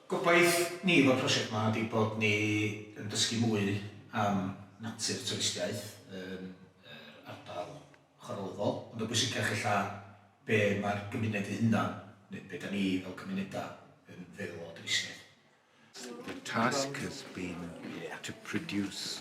Gobaith ni efo'r prosiect 'ma ydi bod ni yn dysgu mwy am natur twristiaeth yn yr ardal chwarelydol, ond yn bwysicach ella be' ma'r gymuned 'i hunan, neu be' 'dan ni fel cymuneda' yn feddwl o dwristiaeth. The task has been to produce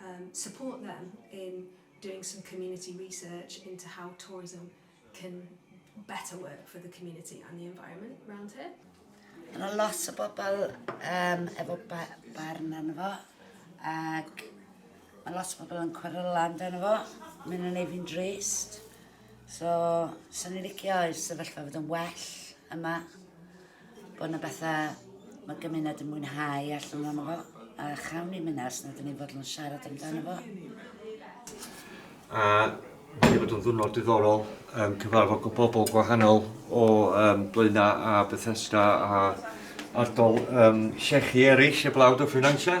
um, support them in doing some community research into how tourism can better work for the community and the environment around here. Yna lot o bobl um, efo ba barn arno fo, ac mae lot o bobl yn cweryla amdano fo, mae'n yn ei fi'n drist. So, sy'n ni'n licio i'r sefyllfa fod yn well yma. Bod yna bethau mae gymuned yn mwynhau allan o'n fo, a chawn ni mynd ars nad ni'n fodlon siarad amdano fo. A wedi bod yn ddwrnod diddorol, um, cyfarfod o bobl gwahanol o um, Blaena a Bethesda a ardol um, llechi eraill y blawd o ffinansau.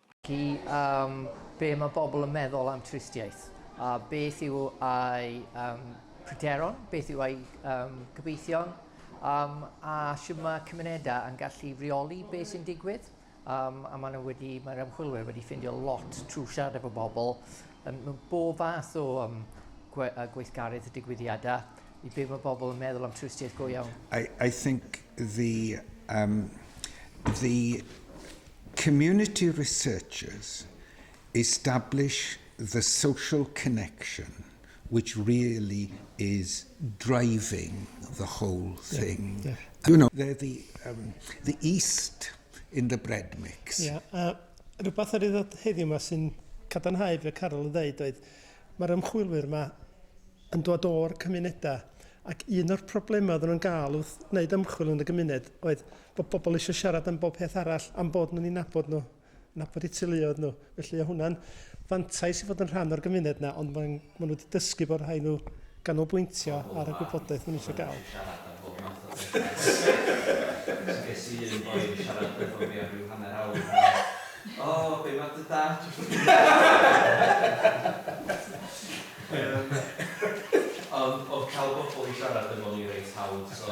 Chi am be mae bobl yn meddwl am twristiaeth, a beth yw ei um, pryderon, beth yw ei um, gobeithion, um, a sy'n mae cymunedau yn gallu reoli beth sy'n digwydd. Um, a maen wedi, mae'r ymchwilwyr wedi ffindio lot trwy siarad efo bobl um, mewn bob fath o um, gwe, uh, gweithgaredd y digwyddiadau i be mae bobl yn meddwl am twristiaeth go iawn. I, I think the, um, the Community researchers establish the social connection which really is driving the whole thing. Yeah, yeah. You know, they're the, um, the east in the bread mix. Yeah, uh, rhywbeth ar ei ddod heddiw yma sy'n cadarnhau fe Carol yn dweud oedd mae'r ymchwilwyr yma yn dod o'r cymunedau ac un o'r problemau oedden nhw'n gael wrth wneud ymchwil yn y gymuned oedd bod pobl eisiau siarad am bob peth arall, am bod nhw'n ei nabod nhw, nabod eu teuluoedd nhw. Felly o hwnna'n fantais i fod yn rhan o'r gymuned yna, ond maen nhw wedi dysgu bod rhaid nhw ganolbwyntio ar y gwybodaeth maen nhw eisiau gael. Ges i un boi yn siarad efo fi am rhyw hanner awr yn dweud, O, be mae dy dad wedi wneud? Ond oedd cael pobl i siarad efo ni reit hawdd, so...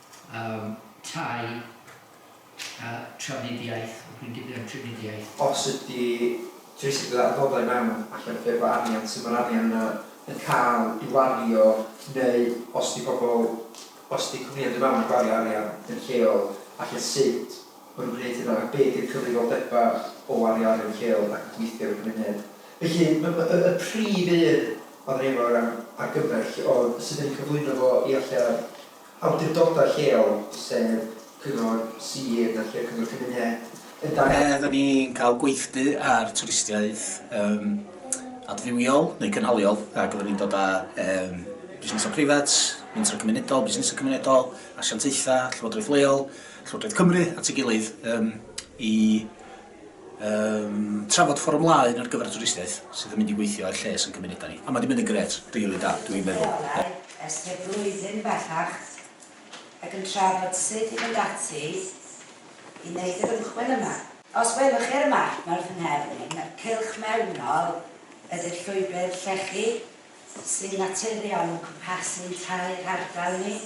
Yym, tai, a trafnidiaeth, dwi'n dipyn am trafnidiaeth. Os ydy trysu gyda adnoddau mewn allan o ffurf o arian, sut mae'r arian yna yn cael ei wario, neu os ydy pobl, os ydy cwmnïau'n dod mewn a gwario arian yn lleol, falle sut maen nhw'n gwneud hynna, a be ydy'r cyfrifoldebau o wario arian yn lleol ac yn gweithio yn y cymuned. Felly, m- m- y prif un oedden ni efo o ran argymell oedd sut dan ni'n cyflwyno fo i allan, awdurdodau lleol, sef Cyngor Sir na lle Cyngor Cymuned, yn dangos. Lle ydan ni'n cael gweithdy ar twristiaeth yym adfywiol neu cynhaliol ac oedden ni'n dod â yym busnesau preifat, mentrau cymunedol, busnesau cymunedol, asiantaethau, llywodraeth leol, Llywodraeth Cymru at ei gilydd yym i Yym, trafod ffordd ymlaen ar gyfer y twristiaeth sydd yn mynd i weithio i'r lles yn cymunedau ni. A mae 'di mynd yn grêt, rili da, dw i'n meddwl. Ie. Ers tua blwyddyn bellach ac yn trafod sut i fynd ati i wneud yr ymchwil yma. Os welwch chi ar y map, mae'r fy nghefn i'n cylch mewnol ydi'r llwybr llechi sy'n naturiol yn cwmpasu tair hardal ni,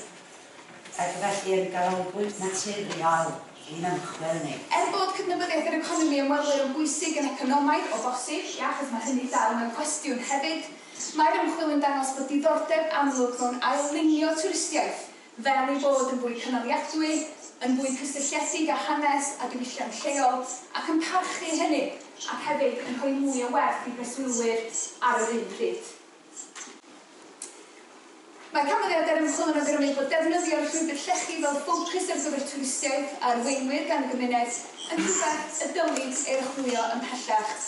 ac felly yn ganolbwynt naturiol i'n ymchwil ni. Er bod cydnabyddiaeth yr economi ymwelwyr yn bwysig yn economaidd, o bosib, ie, achos mae hynny dal mewn cwestiwn hefyd, mae'r ymchwil yn dangos bod diddordeb amlwg mewn ail-lunio twristiaeth, fel ei bod yn fwy cynaliadwy, yn fwy cysylltiedig â hanes a diwylliant lleol, ac yn parchu hynny, ac hefyd yn rhoi mwy o werth i breswylwyr ar yr un pryd. Mae canfyddiadau'r ymchwil yn awgrymu bod defnyddio'r llwybr llechi fel ffocws ar gyfer twristiaid a arweinwyr gan y gymuned yn rhywbeth y dylid ei archwilio ymhellach.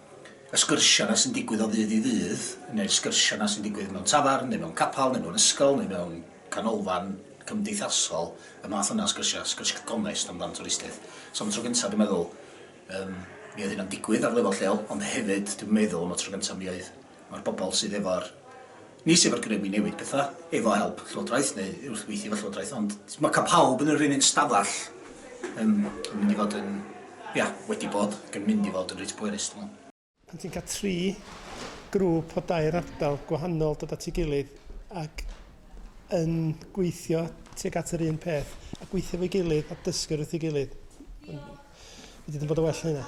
y sgyrsiau 'na sy'n digwydd o ddydd i ddydd, neu'r sgyrsiau 'na sy'n digwydd mewn tafarn, neu mewn capel, neu mewn ysgol, neu mewn canolfan cymdeithasol, y math yna o sgyrsiau, sgyrsiau gonest amdan twristiaeth. So am y tro gyntaf, dwi'n meddwl, um, mi oedd hynna'n digwydd ar lefel lleol, ond hefyd, dwi'n meddwl, am y tro gyntaf, mi oedd, mae'r bobl sydd efo'r Nis efo'r grym i newid pethau, efo help Llywodraeth neu wrth weithio efo Llywodraeth, ond mae cael pawb yn yr un un stafell yn mynd i fod yn, ia, wedi bod, ac yn mynd i fod yn reit bwerus, dwi'n meddwl. Pan ti'n cael tri grŵp o dair ardal gwahanol dod at ei gilydd ac yn gweithio tuag at yr un peth, a gweithio efo'i gilydd a dysgu wrth ei gilydd, fedri di'm bod yn well na hynna.